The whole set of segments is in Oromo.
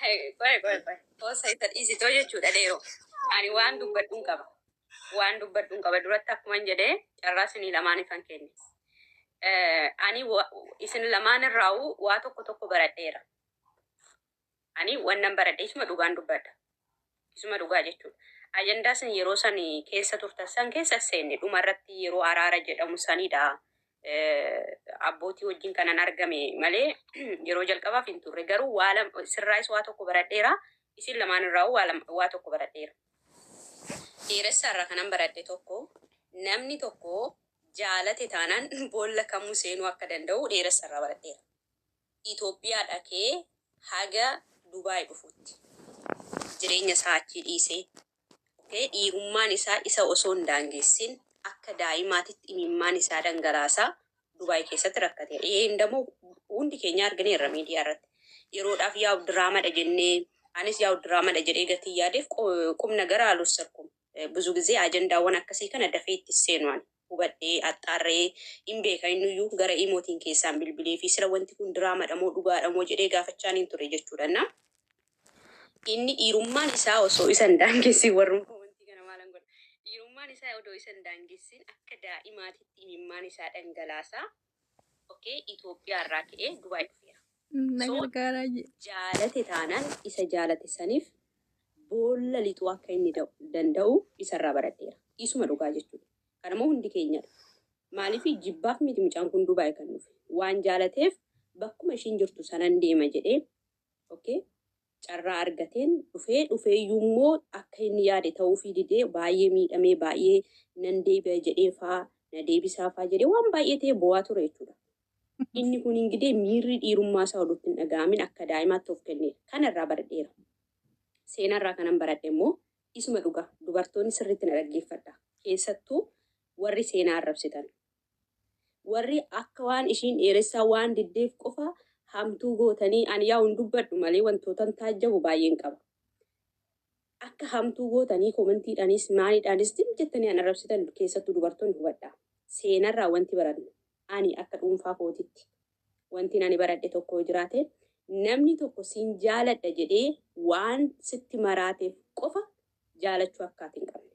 Qoy qoy qoy. Boosa isa dhiisitoo jechuudha dheeroo. Ani waan dubbadhuun qaba. Waan dubbadhuun qaba duratti akkuman jedhee carraa isinii lamaan ifan kenne. Eh, Ani wa- isin lamaan irraa'u waa tokko tokko baradheera. Ani wannan baradheesuma dhugaan dubbadha. Isuma dhugaa jechuudha. Ajandaa isin yeroo san keessa turtan san keessa seenne dhuma irratti yeroo araara jedhamu sanidha. Eh, Abbootii wajjin kanan argame malee yeroo jalqabaaf hin turre. Garuu waa lama sirraayis waa tokko baradheera. Isin lamaan irraa waa lama- waa tokko baradheera. Dheeressa irraa kanan baradhe tokko namni tokko jaalate taanaan boolla kamuu seenuu akka danda'u dheeressa irraa baradheera. Itoophiyaa dhaqee haga Dubai dhufutti jireenya isaa achii dhiisee, ok, dhiirummaan isaa isa osoo hin daangeessin akka daa'imaatitti imimmaan isaa dhangalaasaa Dubai keessatti rakkateera. Yeen damo hundi keenyaa argineerra miidiyaa irratti. Yeroodhaaf yaa'u diraamadha jennee anis yaa'u diraamadha jedhee gatii yaadeef qo- qubna gara alwasarkum. ብዙ ጊዜ ajandaawwan akkasii kana dafee itti seenu ani hubadhee axxaarree hin beeka innuyyuu gara imootiin keessaan bilbilee fi sila wanti kun diraamadha moo dhugaadha moo jedhee gaafachaan hin ture jechuudha na inni dhiirummaan isaa osoo isa hin daangessin warrummaa wanti kana maalan godha dhiirummaan isaa odoo isa hin daangessin akka daa'imaatitti imimmaan isaa dhangalaasaa Okay Ethiopia irraa ka'ee Dubai dhufeera. Na So gargaaraa jee. jaalate taanaan isa jaalate saniif boolla lixuu akka inni da'u- danda'u isarraa baradheera. Isuma dhugaa jechuudha. Kanammoo hundi keenyadha. Maaliif jibbaaf miti mucaan kun Dubai kan dhufe. Waan jaalateef bakkuma ishiin jirtu sanan deema jedhee okay carraa argateen dhufee, dhufeeyyuummoo akka inni yaade ta'uufii didee baay'ee miidhamee baay'ee nan deebi'a jedheefaa na deebisaafaa jedhee waan baay'ee ta'ee boo'aa ture jechuudha. Inni kun ingidee miirri dhiirummaa isaa oduutti hin dhaga'amin akka daa'imaatti of kenneera. Kana irraa baradheera. Seenaa irraa kanan baradhe immoo isuma dhugaa dubartoonni sirriitti na dhaggeeffadhaa. Keessattuu warri seenaa arrabsitan. Warri akka waan ishiin dheeressaa waan diddeef qofa hamtuu gootanii ani yaa'u hin dubbadhu malee wantootan taajjabu baay'een qaba. Akka hamtuu gootanii komentiidhaanis maalidhaanis zim jettanii an arrabsitan keessattuu dubartoonni hubadhaa. Seenarraa wanti barannu ani akka dhuunfaa kootitti wantin ani baradhe tokko yoo jiraate namni tokko sin jaaladha jedhee waan sitti maraateef qofa jaalachuu akka ati hin qabne.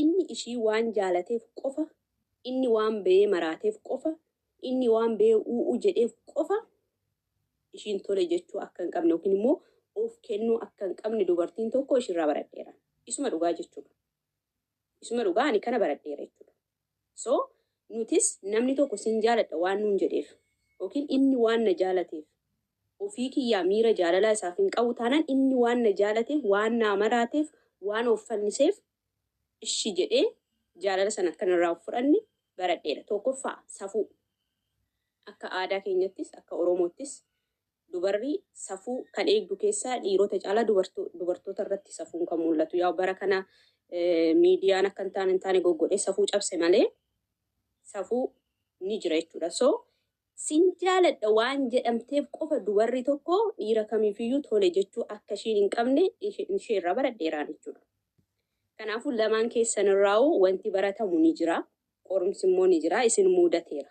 Inni ishii waan jaalateef qofa, inni waan beyee maraateef qofa, inni waan beyee uu'uu jedheef qofa ishiin tole jechuu akka hin qabne yookiin immoo of kennuu akka hin qabne dubartiin tokko ishirraa baradheera. Isuma dhugaa jechuudha. Isuma dhugaa ani kana baradheera jechuudha. So, nutis namni tokko sin jaaladha waan nuun jedheef ykn inni waan na jaalateef, ofii kiyyaa miira jaalalaa isaaf hin qabu taanaan inni waan na jaalateef, waan naa maraateef, waan of fanniseef ishi jedhee jaalala sana akka narraa of fudhanne baradheera. Tokkoffaa, safuu. Akka aadaa keenyattis, akka Oromoottis Dubarri safuu kan eegdu keessaa dhiirota caalaa dubartoota irratti safuun kan mul'atu. Yaa bara kana miidiyaan akka hin taane hin taane goggodhee safuu cabse malee safuu ni jira jechuudha. So sin jaaladha waan jedhamteef qofa dubarri tokko dhiira kamiifiyyuu tole jechuu akka ishiin hin qabne ishee irraa baradheeraan jechuudha. Kanaafuu lamaan keessan irraa'uu wanti baratamu ni jira. Qorumsi immoo ni jira. Isin muudateera.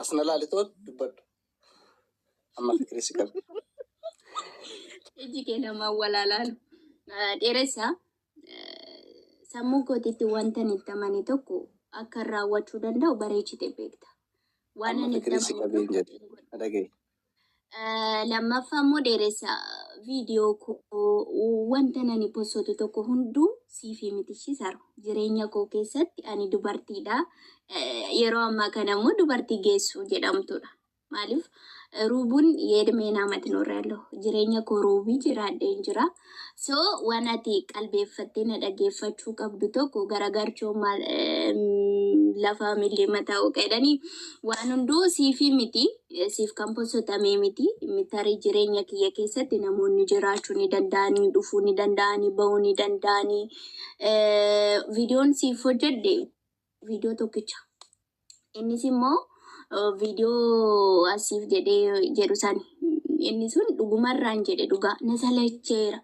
As na laalitoo dubbadhu. Amma fikirii si qabu. Iji kee nama walaalaan dheeressa sammuu kootiitti wanta ani itti amane tokko akka raawwachuu danda'u bareechite beekta. Waan Amma ani itti fikirii si amane qabeen jedhe. Na dhagahi. Eh, Lammaffaa immoo dheeressa viidiyoo koo wanta nani posotu tokko hunduu siifii miti shisaru. Jireenya koo keessatti ani dubartiidha. Eh, Yeroo ammaa kana immoo dubartii geessuu jedhamtudha. Maaliif eh, ruubuun yeedmee naamati noorra yaallo. Jireenya koo ruubii jiraadheen jira. So waan ati qalbeeffattee na dhageeffachuu qabdu tokko garagarchoo maal lafaa millee mataa oqa jedhanii waan hunduu siifii miti siif kan posotamee miti mitarii jireenya kiyya keessatti namoonni jiraachuu ni danda'anii dhufuu ni danda'anii ba'uu ni danda'anii viidiyoon siif hojjedhe viidiyoo tokkicha. Innis immoo viidiyoo asiif jedhee jedhu sani. Inni sun dhugumarraan jedhe dhugaa na salacheera.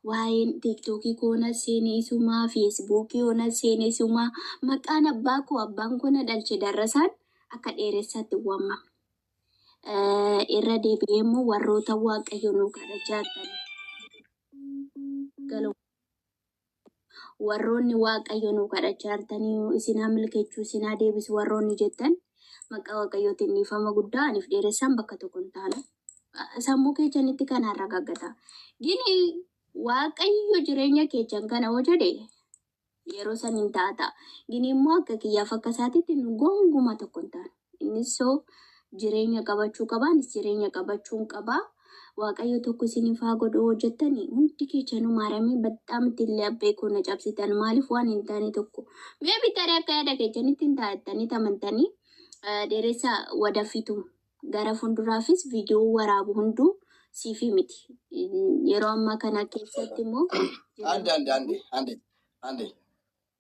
Waa'een tiiktookii koo na seeneesumaa, feesbuukii koo na seeneesumaa, maqaan abbaa koo abbaan koo na dhalche darrasaan akka dheeressaatti waamama. Irra deebi'ee immoo warroota waaqayyo nuu kadhachaa jiran galoo warroonni waaqayyo nuu kadhachaa jirtanii isin haa milkechuu isin haa deebisu warroonni jettan maqaa waaqayyootiin dhiifama guddaa aniif dheeressaan bakka tokko hin taane sammuu keechanitti kan arragaggata gini waaqayyo jireenya keechan kana hoo jedhe yeroo san hin taata gini immoo akka kiyyaaf akka isaatitti nu gonguma tokko hin taane Innis so jireenya qabachuu qaba, anis jireenya qabachuun qaba. Waaqayyo tokko isiniif haa godhu yoo jettani hundi keechanuu maaramee baxxaam ittiin laphee koo na cabsitan maaliif waan hin taane tokko mee bitarii akka yaada keechanitti hin taa'attanii tamantanii eh, dheeressa wadafitu gara fuulduraafis viidiyoo waraabu hunduu siifii miti. Yeroo ammaa kana keessatti immoo Ande, ande, ande, ande, ande.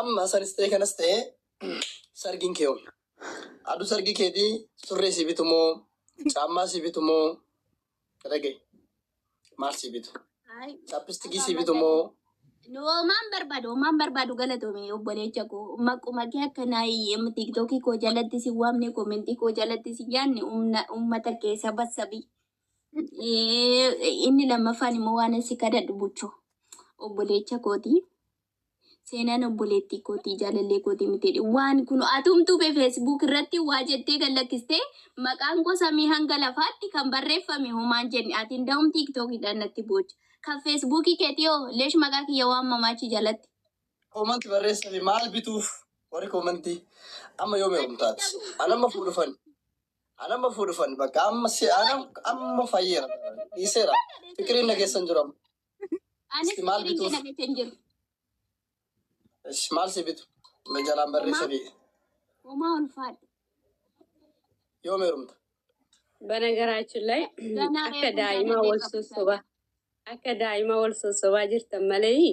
Amma sanis ta'e kanas ta'e sargiin kee oolu. Aduu sargii keetii surree sii bitu moo caammaa sii bitu moo dhagaye maal sii bitu Ay, chaappistikii sii bitu moo nu homaan barbaadu homaan barbaadu galatoome obboleecha koo maquma kee akka naayii tiktookii koo jalatti si waamne koomentii koo jalatti si yaanne umna- ummata kee saba sabi Eh, Inni lammaffaan immoo waan si kadhadhu buchoo. Obboleecha kootii. Seenaan obboleettii kootii jaalallee kootii miti. Waan kun atumtuu fi feesbuuk irratti waa jettee kan lakkistee maqaan koo samii hanga lafaatti kan barreeffame homaan jenne ati hunda'uun tiiktookidhaan natti boocha. Kan feesbuukii keetii hoo leesh maqaa kiyya waan mamaachi jalatti. Koomanti barreessanii maal bituuf warri koomantii amma yoo meequmtaati? An amma fuudhufan. An amma fuudhufan bakka amma si an amma fayyeera dhiiseera fikiriin na keessan jiru amma. Anis Isti maal firiin bituuf? kana beekee hin jiru. Ish, Maal si bitu? Na jalaan barreessa biyya. Homaa ulfaadha. Yoo meerumta. Banagaraachuu illee Ganaa akka eegumsa daa'imaa wal dandeenya sossobaa akka daa'imaa wal sossobaa jirtan malee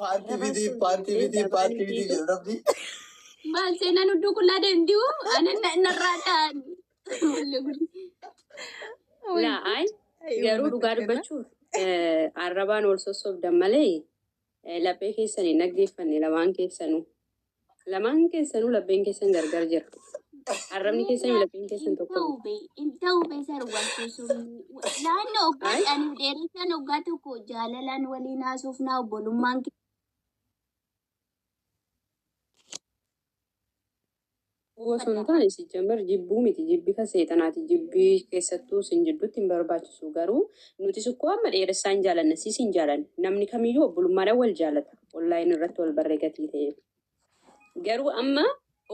Paartii fitii, paartii fitii, paartii fitii jedhu rabbi. Maal seenaan hunduu qullaa deemti hoo? Ani na- narraa ta'an. Wallee guddi. Laa ay garuu dhugaa dubbachuuf eh, arrabaan ol sossobdan malee eh, laphee keessan hin dhaggeeffanne lamaan keessanuu. Lamaan keessanuu lapheen keessan gargar jira. Arrabni keessan lapheen keessan tokko. Intaube, intaube sar wanti sun laanna oggaa Ay. ani dheeressan oggaa tokko jaalalaan waliin haasofnaa obbolummaan Gowwa osoo hin taane sijjammer jibbuu miti jibbi kan seexanaati jibbi keessattuu isin jiddutti hin barbaachisu garuu nutis ukkoo amma dheeressaa hin jaalanna siis hin jaalanne namni kamiyyuu obbolummaadhan wal jaalata online irratti wal barre gatii ta'eef garuu amma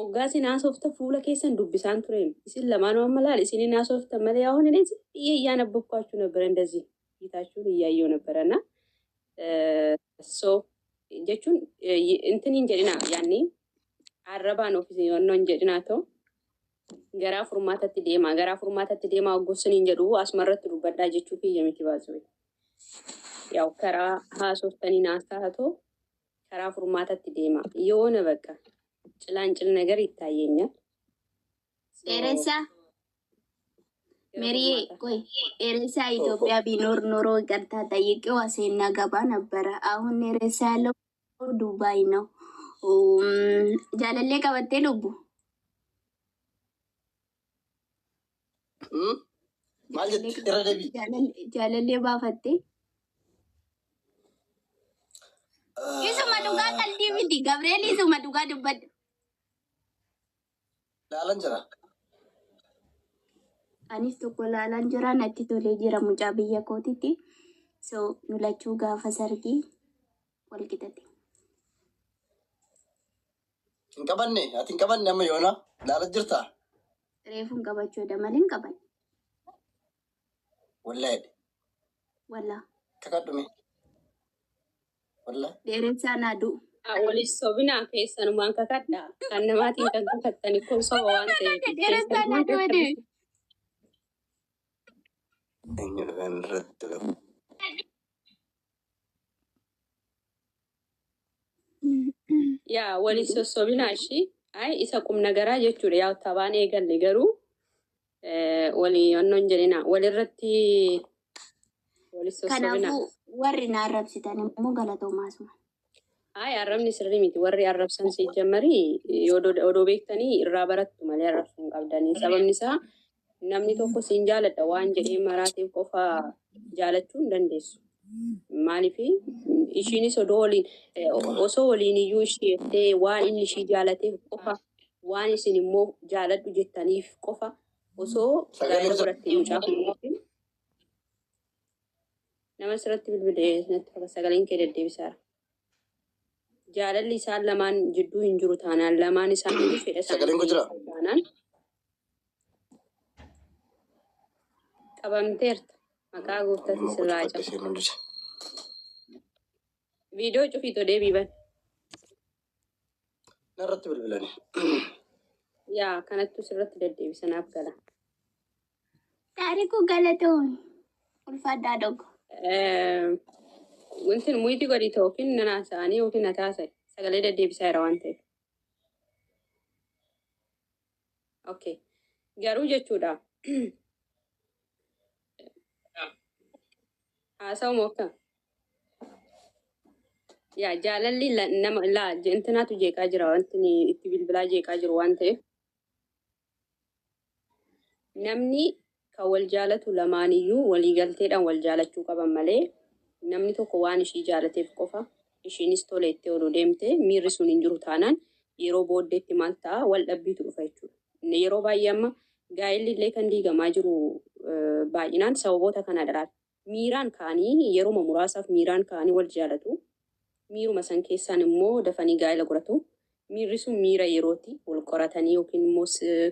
oggaa isin haasofta fuula keessan dubbisaan tureem isin lamaanuu amma laal isin hin haasofta malee yaa'oon hin dhiyeeyyaan abbokkaachuu nabbaran dazii hiitaachuun iyyaayyoo nabbaranna Eh, so jechuun eh, y- intin hin jedhina yaanni arrabaan ofis yoonnoon jedhinaa ta'u garaa furmaatatti deemaa garaa furmaatatti deemaa ogguusin hin jedhu asumarratti dubbadhaa jechuu kiyya miti baasuu yaa'u karaa haasoftanii naasaa haa ta'u karaa furmaatatti deemaa yoona bakka cilaan cil nagar ittaayyeenya Dheeressaa. Meriyee qoy dheeressaa Itoophiyaa biinoor noroo iqartaa xayyiqqee waa seennaa gabaa nabbara aahun dheeressaa yaለው Dubaay ነው jaalallee qabattee lubbu Hmm? Maal jette? Irra deebi'i. Jaalallee- jaalallee baafattee isuma dhugaa qalbii miti Gabriel isuma dhugaa dubbadhu laalan jira. Anis tokko laalan jira natti tolee jira mucaa biyya kootitti. So nu lachuu gaafa sargii wal qixate. Hin qabanne ati hin qabanne amma yoona laalan jirta. Reefuun qabachuu dha malee hin qaban. Wallahi Wallaa. kakadhume. Wallah. Dheeressaa naa du'u. Waliif sobinaa keessanumaan kakadha. Kan namaatiin kan kakattani kun soba waan ta'eef. Dheeressaa naa du'u deebi. Eenyudha kan irratti lafu. Yaa waliif sossobinaa ishii. Ay isa qumnagaraa jechuudha yaa tabaan eegalle garuu Walii wannoon jedhina. Walirratti walis sossobina. Kanaafuu warri na arrabsitan immoo galatoomaa suma. Hayi arrabni sirrii miti. Warri arrabsan si jammarii yoo do- odoo beektanii irraa barattu malee arrabsuu hin qabdanii. Sababni isaa namni tokko siin jaaladha waan jedhee maraatiif qofa jaalachuu hin dandeessu. Maaliif ishiinis odoo waliin eh, osoo waliin iyyuu ishii jettee waan inni ishii jaalateef qofa waan isin immoo jaaladhu jettaniif qofa osoo gaa'ela godhattee mucaa fuudhuutiin nama asirratti bilbilee natti fakkata sagaleen kee deddeebisaara. Jaalalli isaan lamaan jidduu hin jiru taanaan lamaan isaanii fedha isaanii Sagaleen kun jira? dhiyeessan taanaan qabamteerta maqaa gooftaatti sirraa Bakka cabu. ishee mul'isa. Viidiyoo cufiitoo deebii ban. Narratti bilbilani. Yaa kanattu sirratti deddeebisa naaf gala. Taarikuu galatoon ulfaadhaa dogo. Eh, Wanti muyiti godhi ta'u yookiin nan haasa'anii yookiin na taasise sagalee deddeebisaa jira waan ta'eef. Okay. Garuu jechuudha. Haasa'u moo akka? Yaa jaalalli la- nama laa intinaatu jeeqaa jira wanti inni itti bilbilaa jeeqaa jiru waan ta'eef namni Kan wal jaalatu lamaaniyyuu walii galteedhaan wal jaalachuu qaban malee namni tokko waan ishii jaalateef qofa ishiinis tole jettee odoo deemte miirri sun hin jiru taanaan yeroo booddeetti maal ta'a wal dhabbiitu dhufa jechuudha. Yeroo baay'ee amma gaa'elli illee kan diigamaa jiru baay'inaan sababoota kanadha laal. Miiraan ka'anii yeruma muraasaaf miiraan ka'anii wal jaalatu. Miiruma san keessaan immoo dafanii gaa'ila godhatu. Miirri sun miira yerooti. Wal qoratanii yookiin immoo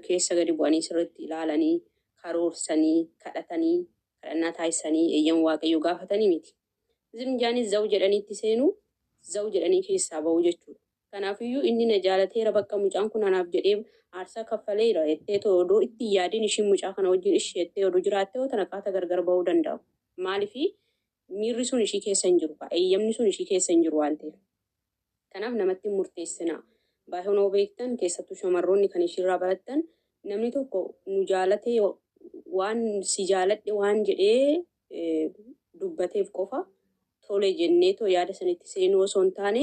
keessa gadi bu'anii sirriitti ilaalanii, karoorsanii, kadhatanii, kadhannaa taasisanii, eeyyama Waaqayyoo gaafatanii miti. Zim jaanii zaw jedhanii itti seenuu, zaw jedhanii keessaa ba'uu jechuudha. Kanaafiyyuu inni na jaalateera bakka mucaan kun anaaf jedhee aarsaa kaffaleera jetteetoo odoo itti hin yaadin ishiin mucaa kana wajjin ishi jettee odoo jiraattee hoo tana qaata gargar bahuu danda'u. Maaliif miirri sun ishii keessa hin jiru kaa eeyyamni sun ishii keessa hin jiru waan ta'eef. Kanaaf namatti hin murteessinaa. Baay'ee noo beektan keessattuu shamarroonni kan ishiirraa barattan namni tokko nu jaalatee waan si jaaladhe waan jedhee eh, dubbateef qofa tole jenneetoo yaada sanitti seenuu osoo hin taane